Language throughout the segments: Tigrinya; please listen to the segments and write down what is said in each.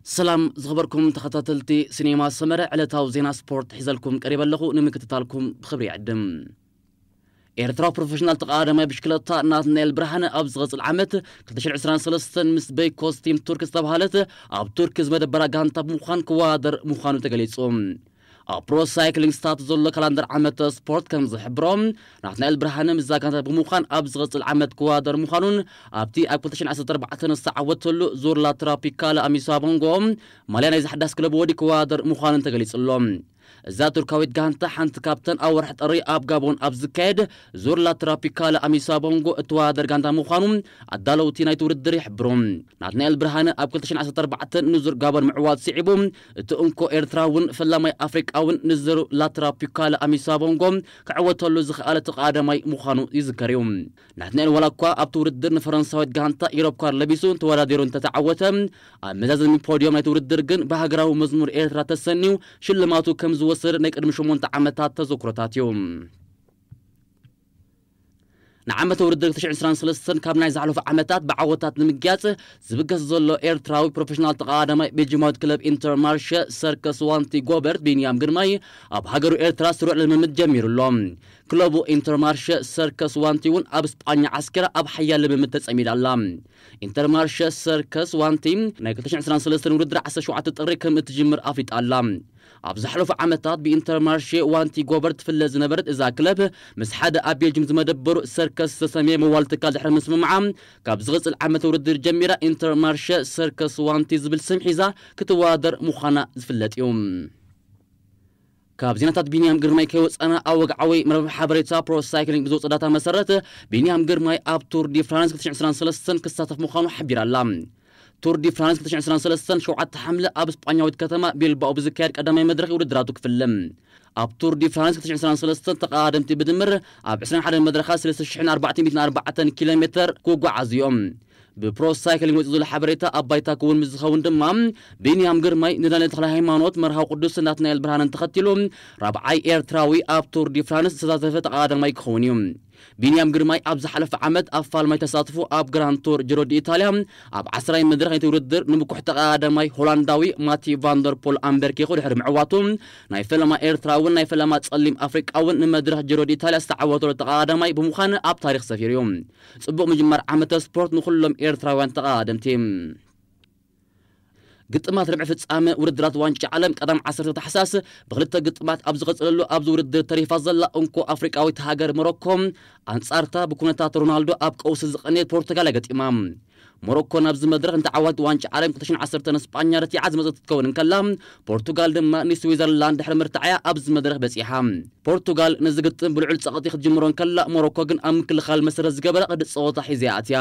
ሰላም ዝኸበርኩም ተኸታተልቲ ሲኔማ ሰመረ ዕለታዊ ዜና ስፖርት ሒዘልኩም ቀሪበ ኣለኹ ንምክትታልኩም ብኽብሪ ይዕድም። ኤርትራዊ ፕሮፈሽናል ተቐዳዳማይ ብሽክለታ ናትናኤል ብርሃነ ኣብ ዝቐጽል ዓመት 2023 ምስ በይኮስ ቲም ቱርክ ዝተባህለት ኣብ ቱርክ ዝመደበራ ጋንታ ብምዃን ክወዳደር ምዃኑ ተገሊጹ። ኣብ ፕሮ ሳይክሊንግ ስታትስ ዘሎ ካላንደር ዓመተ ስፖርት ከም ዝሕብሮ ናትናኤል ብርሃነ ምስዛ ጋንታ ብምዃን ኣብ ዝቕጽል ዓመት ክወዳደር ምዃኑን ኣብቲ ኣብ 2014 ንዝተዓወተሉ ዙር ላትራፒካለ ኣሚሳ ቦንጎ ማልያ ናይዛ ሓዳስ ክለብ ወዲ ክወዳደር ምዃኑን ተገሊጹ ኣሎ። እዛ ቱርካዊት ጋንታ ሓንቲ ካብተን ኣብ ወርሒ ጥሪ ኣብ ጋቦን ኣብ ዝካየድ ዙር ላትራፒካለ ኣሚሳ ቦንጎ እትወዳደር ጋንታ ምዃኑ ኣዳለውቲ ናይቲ ውድድር ይሕብሩ። ናትናኤል ብርሃነ ኣብ 2014 ንዙር ጋቦን ምዕዋት ስዒቡ እቲ እንኮ ኤርትራውን ፈላማይ ኣፍሪቃውን ንዝሩ ላትራፒካለ ኣሚሳ ቦንጎ ክዕወተሉ ዝኸኣለ እቲ ቐዳማይ ምዃኑ ይዝከር እዩ። ናትናኤል ዋላኳ ኣብቲ ውድድር ንፈረንሳዊት ጋንታ ኢሮፕካር ለቢሱ ተወዳዲሩ እንተተዓወተ ኣብ መዛዘሚ ፖድዮም ናይቲ ውድድር ግን ብሃገራዊ መዝሙር ኤርትራ ተሰንዩ ሽልማቱ ከምዝወሰደ ናይ ቅድሚ ሸሞንተ ዓመታት ተዘክሮታት እዩ። ንዓመተ ውድድር ትሽዓን ዕስራን ሰለስተን ካብ ናይ ዝሓለፉ ዓመታት ብዓወታት ንምግያጽ ዝብገስ ዘሎ ኤርትራዊ ፕሮፌሽናል ተቐዳዳማይ ቤልጂማዊት ክለብ ኢንተርማርሸ ሰርከስ ዋንቲ ጎበርት ቢንያም ግርማይ ኣብ ሃገሩ ኤርትራ ስሩዕ ልምምድ ጀሚሩ ኣሎ። ክለቡ ኢንተርማርሸ ሰርከስ ዋንቲ እውን ኣብ ስጳኛ ዓስኪራ ኣብ ሓያል ልምምድ ተጸሚዳ ኣላ። ኢንተርማርሸ ሰርከስ ዋንቲ ናይ ክልተ ሽሕን ዕስራን ሰለስተን ውድድር ዓሰርተ ሸውዓተ ጥሪ ከምእትጅምር ኣፍሊጣ ኣላ። ኣብ ዝሓለፉ ዓመታት ብኢንተርማርሼ ዋንቲጎበር ትፍለ ዝነበረት እዛ ክለብ ምስ ሓደ ኣብ ቤልጅም ዝመደበሩ ሰርከስ ዝተሰምየ መዋል ትካል ድሕሪ ምስምምዓ ካብ ዝቕጽል ዓመተ ውድድር ጀሚራ ኢንተርማርሸ ሰርከስ ዋንቲ ዝብል ስም ሒዛ ክትወዳደር ምዃና ዝፍለጥ እዩ። ካብ ዜናታት ቢንያም ግርማይ ከይወጻና ኣብ ወግዓዊ መርበብ ሓበሬታ ፕሮ ሳይክሊንግ ብዝወጸ ዳታ መሰረት ቢንያም ግርማይ ኣብ ቱር ዲ ፍራንስ 2023 ክሳተፍ ምዃኑ ሓቢራ ኣላ። ቱር ዲ ፍራንስ 2023 ሸውዓተ ሓምለ ኣብ ስጳኛዊት ከተማ ቢልባኦ ብዝካየድ ቀዳማይ መድረኽ ውድድራቱ ክፍለም። ኣብ ቱር ዲ ፍራንስ 2023 ተቐዳደምቲ ብድምር ኣብ 21 መድረኻት 3440 ኪሎ ሜተር ክጓዓዙ እዮም። ብፕሮ ሳይክሊንግ ወፂኡ ዘሎ ሓበሬታ ኣብ ባይታ ክውን ምስ ዝኸውን ድማ ቢንያም ግርማይ ንዳንኤል ተኽለሃይማኖት መርሃዊ ቅዱስ ናትናኤል ብርሃንን ተኸቲሉ ራብዓይ ኤርትራዊ ኣብ ቱር ዲ ፍራንስ ዝተሳተፈ ተቐዳዳማይ ክኸውን እዩ። ቢንያም ግርማይ ኣብ ዝሓለፈ ዓመት ኣብ ፋልማይ ተሳትፉ ኣብ ግራንድ ቱር ጅሮዲ ኢታልያ ኣብ ዓስራይ መድረኽ ነቲ ውድድር ንብኩሕ ተቐዳዳማይ ሆላንዳዊ ማቲ ቫንደር ፖል ኣምበርኪኹ ድሕሪ ምዕዋቱ ናይ ፈለማ ኤርትራውን ናይ ፈለማ ጸሊም ኣፍሪቃውን ንመድረኽ ጅሮዲ ኢታልያ ዝተዓወተሉ ተቐዳዳማይ ብምዃን ኣብ ታሪኽ ሰፊሩ እዩ። ጽቡቕ ምጅማር ዓመተ ስፖርት ንኹሎም ኤርትራውያን ተቐዳደምቲ። ግጥማት ርብዒ ፍጻመ ውድድራት ዋንጫ ዓለም ቀዳም ዓሰርተ ታሕሳስ ብክልተ ግጥማት ኣብ ዝቐጽለሉ ኣብዚ ውድድር ተሪፋ ዘላ እንኮ ኣፍሪቃዊት ሃገር ሞሮኮ ኣንጻርታ ብኩነታት ሮናልዶ ኣብ ቀውሲ ዝቐነየት ፖርቱጋል እያ ገጢማ። ሞሮኮ ናብዚ መድረኽ ንተዓዋቲት ዋንጫ ዓለም ክልተ ሽሕን ዓሰርተን ንስጳኛ ረቲዓ ዝመጸት ክትከውን እንከላ ፖርቱጋል ድማ ንስዊዘርላንድ ድሕሪ ምርታዕ'ያ ኣብዚ መድረኽ በጺሓ። ፖርቱጋል ነዚ ግጥም ብልዑል ጸቕጢ ክትጅምሮ እንከላ ሞሮኮ ግን ኣብ ምክልኻል መሰረት ዝገበረ ቅዲ ጸወታ ሒዛ'ያ ኣትያ።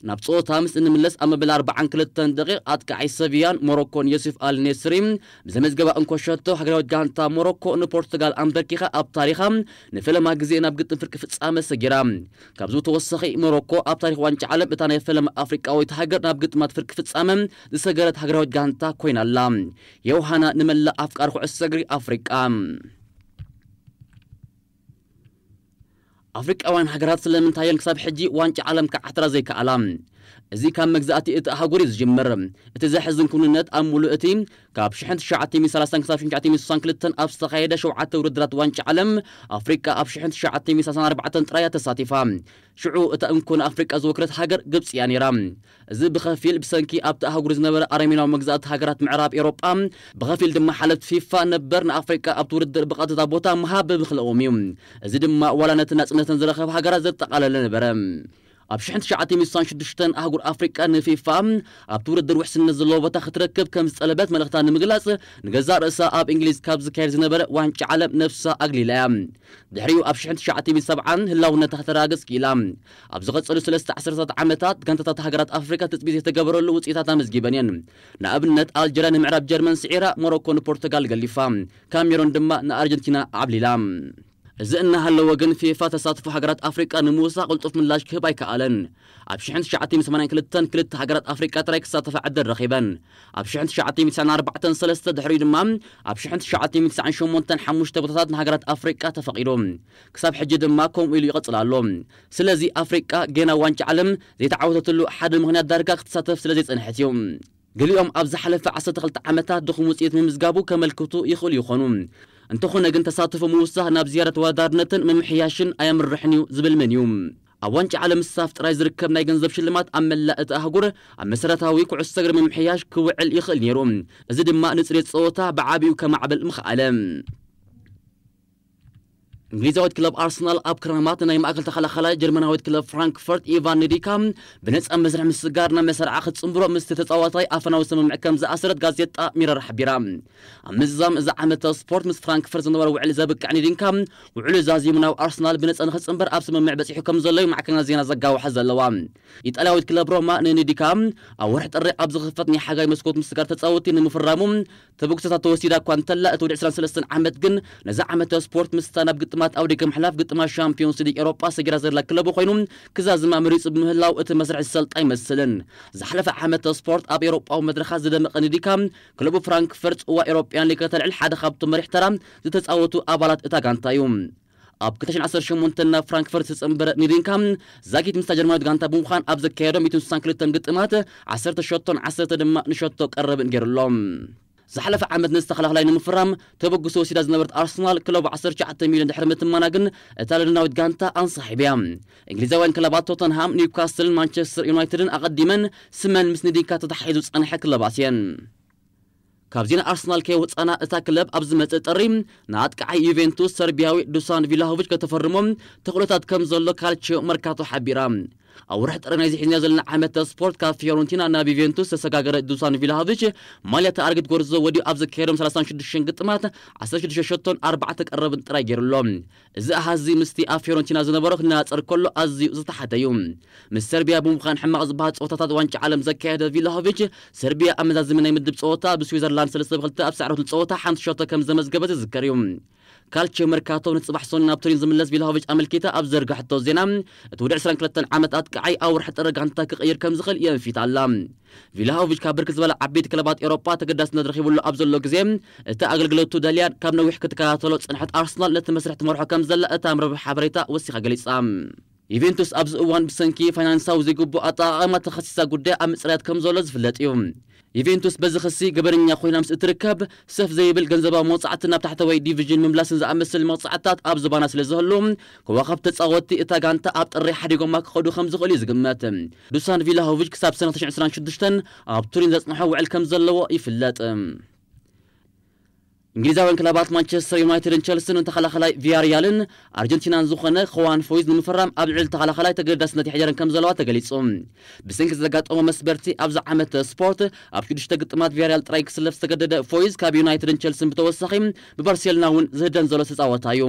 ናብ ጸወታ ምስ እንምለስ ኣብ መበል ኣርብዓን ክልተን ደቒቕ ኣጥቃዓይ ሰቪያን ሞሮኮን ዮሱፍ ኣል ኔስሪ ብዘመዝገባ እንኮ ሸቶ ሃገራዊት ጋንታ ሞሮኮ ንፖርቱጋል ኣምበርኪኻ ኣብ ታሪኻ ንፈለማ ግዜ ናብ ግጥም ፍርቂ ፍጻመ ሰጊራ። ካብዚ ብተወሳኺ ሞሮኮ ኣብ ታሪኽ ዋንጫ ዓለም እታ ናይ ፈለማ ኣፍሪቃዊት ሃገር ናብ ግጥማት ፍርቂ ፍጻመ ዝሰገረት ሃገራዊት ጋንታ ኮይና ኣላ። ዮውሃና ንመላእ ኣፍቃሪ ኩዕሶ እግሪ ኣፍሪቃ! ኣፍሪቃውያን ሃገራት ስለምንታይ እየን ክሳብ ሕጂ ዋንጫ ዓለም ክዓትራ ዘይከኣላ? እዚ ካብ መግዛእቲ እቲ ኣህጉር እዩ ዝጅምር። እቲ ዘሕዝን ክውንነት ኣብ ምሉእ እቲ ካብ ሽሕን ትሽዓተ ሚእቲ ሰላሳን ክሳብ ሽሕን ትሽዓተ ሚእቲ ስሳን ክልተን ኣብ ዝተኻየደ ሸውዓተ ውድድራት ዋንጫ ዓለም ኣፍሪቃ ኣብ ሽሕን ትሽዓተ ሚእቲ ሰላሳን ኣርባዕተን ጥራይ እያ ተሳቲፋ። ሽዑ እታ እንኮ ንኣፍሪቃ ዝወከለት ሃገር ግብጺ እያ ነይራ። እዚ ብኸፊል ብሰንኪ ኣብታ ኣህጉር ዝነበረ ኣረሜናዊ መግዛእቲ ሃገራት ምዕራብ ኤውሮጳ፣ ብኸፊል ድማ ሓለፍቲ ፊፋ ነበር ንኣፍሪቃ ኣብቲ ውድድር ብቐጥታ ቦታ ምሃብ ብምኽለኦም እዩ። እዚ ድማ ዋላ ነተን ናጽነተን ዝረኸባ ሃገራት ዘጠቓለለ ነበረ። ኣብ ሽሕን ትሽዓተ ሚእቲ ስሳን ሽዱሽተን ኣህጉር ኣፍሪቃ ንፊፋ ኣብቲ ውድድር ውሕስነት ዘለዎ ቦታ ክትረክብ ከም ዝጠለበት መልእኽታ ንምግላጽ ንገዛእ ርእሳ ኣብ እንግሊዝ ካብ ዝካየድ ዝነበረ ዋንጫ ዓለም ነብሳ ኣግሊላ እያ። ድሕሪኡ ኣብ ሽሕን ትሽዓተ ሚእቲ ሰብዓን ህላውነታ ከተረጋግጽ ክኢላ። ኣብ ዝቐጸሉ ስለስተ ዓሰርተታት ዓመታት፣ ጋንታታት ሃገራት ኣፍሪቃ ትጽቢት ዘይተገበረሉ ውጽኢታት ኣመዝጊበን እየን። ንኣብነት፣ ኣልጀርያ ንምዕራብ ጀርመን ስዒራ፣ ሞሮኮ ንፖርቱጋል ገሊፋ፣ ካሜሮን ድማ ንኣርጀንቲና ኣዕብሊላ። እዚ እናሃለወ ግን፣ ፊፋ ተሳትፎ ሃገራት ኣፍሪቃ ንምውሳኽ ቅልጡፍ ምላሽ ክህብ ኣይከኣለን። ኣብ ሽሕን ትሽዓተ ሚእትን ሰማንያን ክልተን ክልተ ሃገራት ኣፍሪቃ ጥራይ ክሳተፋ ዕድል ረኺበን። ኣብ ሽሕን ትሽዓተ ሚእትን ትስዓን ኣርባዕተን ሰለስተ፣ ድሕሪኡ ድማ ኣብ ሽሕን ትሽዓተ ሚእትን ትስዓን ሸሞንተን ሓሙሽተ ቦታታት ንሃገራት ኣፍሪቃ ተፈቒዱ። ክሳብ ሕጂ ድማ ከምኡ ኢሉ ይቕጽል ኣሎ። ስለዚ ኣፍሪቃ ጌና ዋንጫ ዓለም ዘይተዓወተትሉ ሓደ ምኽንያት ዳርጋ ክትሳተፍ ስለ ዘይጸንሐት እዩ። ገሊኦም ኣብ ዝሓለፈ ዓሰርተ ክልተ ዓመታት ድኹም ውጽኢት ምምዝጋቡ ከመልክቱ ይኽእሉ ይኾኑ። እንተኾነ ግን ተሳትፎ ምውሳኽ ናብ ዝያዳ ተወዳዳርነትን ምምሕያሽን ኣየምርሕን እዩ ዝብል መን እዩ? ኣብ ዋንጫ ዓለም ምስታፍ ጥራይ ዝርከብ ናይ ገንዘብ ሽልማት ኣብ መላእ እታ ኣህጉር ኣብ መሰረታዊ ኩዕሶ እግሪ ምምሕያሽ ክውዕል ይኽእል ነይሩ። እዚ ድማ ንጽሬት ጸወታ ብዓቢኡ ከማዕብል ምኸኣለ። እንግሊዛዊት ክለብ ኣርሰናል ኣብ ክራማት ንናይ ማእከል ተኸላኻላይ ጀርመናዊት ክለብ ፍራንክፈርት ኢቫን ንዲካ ብነጻ መስርሕ ምስጋር ናብ መሰርዓ ክትጽንብሮ ምስቲ ተጻዋታይ ኣፈናዊ ስምምዕ ከም ዝኣሰረት ጋዜጣ ሚረር ሓቢራ። ኣብ ምዝዛም እዚ ዓመተ ስፖርት ምስ ፍራንክፈርት ዝነበሮ ውዕሊ ዘብቅዕ ንዲካ፣ ውዕሉ ዛዚሙ ናብ ኣርሰናል ብነጻ ንኽጽንበር ኣብ ስምምዕ በጺሑ ከም ዘሎ'ዩ ማዕከናት ዜና ዘጋውሓ ዘለዋ። ኢጣልያዊት ክለብ ሮማ ንንዲካ ኣብ ወርሒ ጥሪ ኣብ ዝኽፈት ናይ ሓጋይ መስኮት ምስጋር ተጻወትቲ ንምፍራሙ ተበግሶታት ተወሲዳ እኳ እንተላ እቲ ወዲ ዕስራን ሰለስተን ዓመት ግን ነዚ ዓመተ ስፖርት ምስታ ናብ ግጥማት ኣብ ደገ ምሕላፍ ግጥማት ሻምፕዮንስ ሊግ ኤውሮጳ ሰጊራ ዘላ ክለቡ ኮይኑ ክዛዝማ መሪጹ ብምህላው እቲ መስርሕ ዝሰልጥ ኣይመስልን። ዝሓለፈ ዓመተ ስፖርት ኣብ ኤውሮጳዊ መድረኻት ዝደመቐ ንዲካ ክለቡ ፍራንክፈርት ጽዋ ኤውሮጵያን ሊግ ከተልዕል ሓደ ካብቶም መሪሕ ተራ ዝተጻወቱ ኣባላት እታ ጋንታ እዩ። ኣብ ክልተ ሽሕን ዓሰርተ ሸሞንተን ናብ ፍራንክፈርት ዝተጸንበረ ኒሪንካ፣ ዛጊት ምስታ ጀርመናዊት ጋንታ ብምዃን ኣብ ዘካየዶ ሚእትን ስሳን ክልተን ግጥማት ዓሰርተ ሸቶን ዓሰርተ ድማ ንሸቶ ቀረብን ገይሩ ኣሎ። ዝሓለፈ ዓመት ነዚ ተኸላኻላይ ንምፍራም ተበግሶ ወሲዳ ዝነበረት ኣርሰናል፣ ክለቡ ዓሰርተ ትሽዓተ ሚልዮን ድሕሪ ምትማና ግን እታ ለንደናዊት ጋንታ ኣንሳሒብ እያ። እንግሊዛውያን ክለባት ቶተንሃም፣ ኒውካስልን ማንቸስተር ዩናይትድን ኣቐዲመን ስመን ምስ ኒሪንካ ተተሓሒዙ ዝጸንሐ ክለባት እየን። ካብዚ ንኣርሰናል ከይወጻእና እታ ክለብ ኣብ ዝመጽእ ጥሪ ንኣጥቃዓይ ዩቬንቱስ ሰርቢያዊ ዱሳን ቪላሆቪች ከተፈርሞ ተኽእሎታት ከም ዘሎ ካልቺዮ መርካቶ ሓቢራ። ኣብ ወርሒ ጥሪ ናይዚ ሒዝናዮ ዘለና ዓመተ ስፖርት ካብ ፊዮረንቲና ናብ ዩቬንቱስ ዝተሰጋገረ ዱሳን ቪላሆቪች ማልያ እታ ኣረጊት ጎርዞ ወዲኡ ኣብ ዘካየዶም ሰላሳን ሽዱሽተን ግጥማት ዓሰርተ ሽዱሽተ ሸቶን ኣርባዕተ ቀረብን ጥራይ ገይሩ ኣሎ። እዚ ኣሃዝ'ዚ ምስቲ ኣብ ፊዮረንቲና ዝነበሮ ክነጻጸር ከሎ ኣዝዩ ዝተሓተ'ዩ። ምስ ሰርቢያ ብምዃን ሕማቕ ዝበሃል ጸወታታት ዋንጫ ዓለም ዘካየደ ቪላሆቪች፣ ሰርቢያ ኣብ መዛዘሚ ናይ ምድብ ጸወታ ብስዊዘርላንድ ሰለስተ ብ ክልተ ኣብ ዝሰዓረትሉ ጸወታ ሓንቲ ሸቶ ከም ዘመዝገበት ዝዝከር'ዩ። ካልቺዮ መርካቶ ን ጽባሕ ሰኑይ ናብ ቱሪን ዝምለስ ቪላሆቪች ኣመልኪታ ኣብ ዝዘርጋሐቶ ዜና፣ እቲ ወዲ ዕስራን ክልተን ዓመት ኣጥቃዓይ ኣብ ወርሒ ጥሪ ጋንታ ክቕይር ከም ዝኽእል የንፊት ኣላ። ቪላሆቪች ካብ ብርክት ዝበላ ዓበይቲ ክለባት ኤውሮጳ ተገዳስነት ረኺብሉ ኣብ ዘሎ ግዜ፣ እቲ ኣገልግሎቱ ደልያን ካብ ነዊሕ ክትከታተሎ ዝጸንሐት ኣርሰናል ነቲ መስርሕ ትመርሖ ከም ዘላ እታ መርበብ ሓበሬታ ወሲኻ ገሊጻ። ዩቬንቱስ ኣብዚ እዋን ብሰንኪ ፋይናንሳዊ ዘይግቡእ ኣጠቓቕማ ተኸሲሳ ጉዳያ ኣብ ምጽራያት ከም ዘሎ ዝፍለጥ እዩ። ዩቬንቱስ በዚ ክሲ ገበነኛ ኮይና ምስ እትርከብ፣ ሰፍ ዘይብል ገንዘባዊ መቕጻዕትን ናብ ታሕተዋይ ዲቪዥን ምምላስን ዝኣመሰለ መቕጻዕትታት ኣብ ዝባና ስለ ዝህሉ፣ ኮኾብ ተጻወትቲ እታ ጋንታ ኣብ ጥሪ ሓዲጎማ ክኸዱ ከም ዝኽእሉ እዩ ዝግመት። ዱሳን ቪላሆቪች ክሳብ ሰነ ትሽዓን ዕስራን ሽዱሽተን ኣብ ቱሪን ዘጽንሖ ውዕል ከም ዘለዎ ይፍለጥ። እንግሊዛውያን ክለባት ማንቸስተር ዩናይትድን ቸልስን ንተኸላኸላይ ቪያሪያልን ኣርጀንቲናን ዝኾነ ኹዋን ፎይዝ ንምፍራም ኣብ ልዕሊ ተኸላኸላይ ተገዳስነት የሕደረን ከም ዘለዋ ተገሊጹ። ብሰንኪ ዘጋጠሞ መስበርቲ ኣብዚ ዓመት ስፖርት ኣብ ሽዱሽተ ግጥማት ቪያሪያል ጥራይ ክስለፍ ዝተገደደ ፎይዝ ካብ ዩናይትድን ቸልስን ብተወሳኺ ብባርሴሎና እውን ዝህደን ዘሎ ዝተጻወታ እዩ።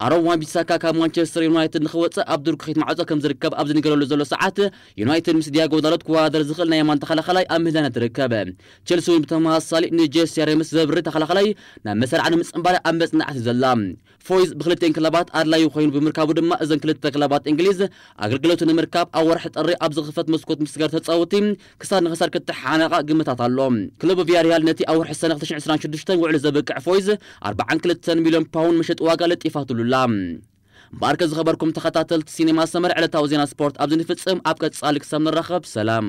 ኣሮን ዋን-ቢሳካ ካብ ማንቸስተር ዩናይትድ ንኽወጽእ ኣብ ድርኩኺት ማዕጾ ከም ዝርከብ ኣብ ዝንገረሉ ዘሎ ሰዓት፣ ዩናይትድ ምስ ዲያጎ ዳሎት ክወዳደር ዝኽእል ናይ የማን ተኸላኻላይ ኣብ ምህላነት ትርከብ። ቸልሲ'ውን ብተመሳሳሊ ንጄሲ ኣሬምስ ዘብሪ ተኸላኻላይ ናብ መሰርዓ ንምጽንባር ኣብ መጽናዕቲ'ዩ ዘላ። ፎይዝ ብኽልቲኤን ክለባት ኣድላዩ ኮይኑ ብምርካቡ ድማ እዘን ክልተ ክለባት እንግሊዝ ኣገልግሎቱ ንምርካብ ኣብ ወርሒ ጥሪ ኣብ ዝኽፈት መስኮት ምስጋር ተጻወትቲ ክሳድ ንኽሳድ ክተሓሓነቓ ግምታት ኣሎ። ክለብ ቪያሪያል ነቲ ኣብ ወርሒ ሰነ ክልተ ሽሕን ዕስራን ሽዱሽተን ውዕሊ ዘብቅዕ ፎይዝ ኣርብዓን ክልተን ሚልዮን ፓውንድ መሸጢ ዋጋ ለጢፋትሉ ኣላ። እምበኣርከ ዝኸበርኩም ተኸታተልቲ ሲኔማ ሰመረ ዕለታዊ ዜና ስፖርት ኣብዚ ንፍጽም ኣብ ቀጻሊ ክሳብ ንራኸብ ሰላም።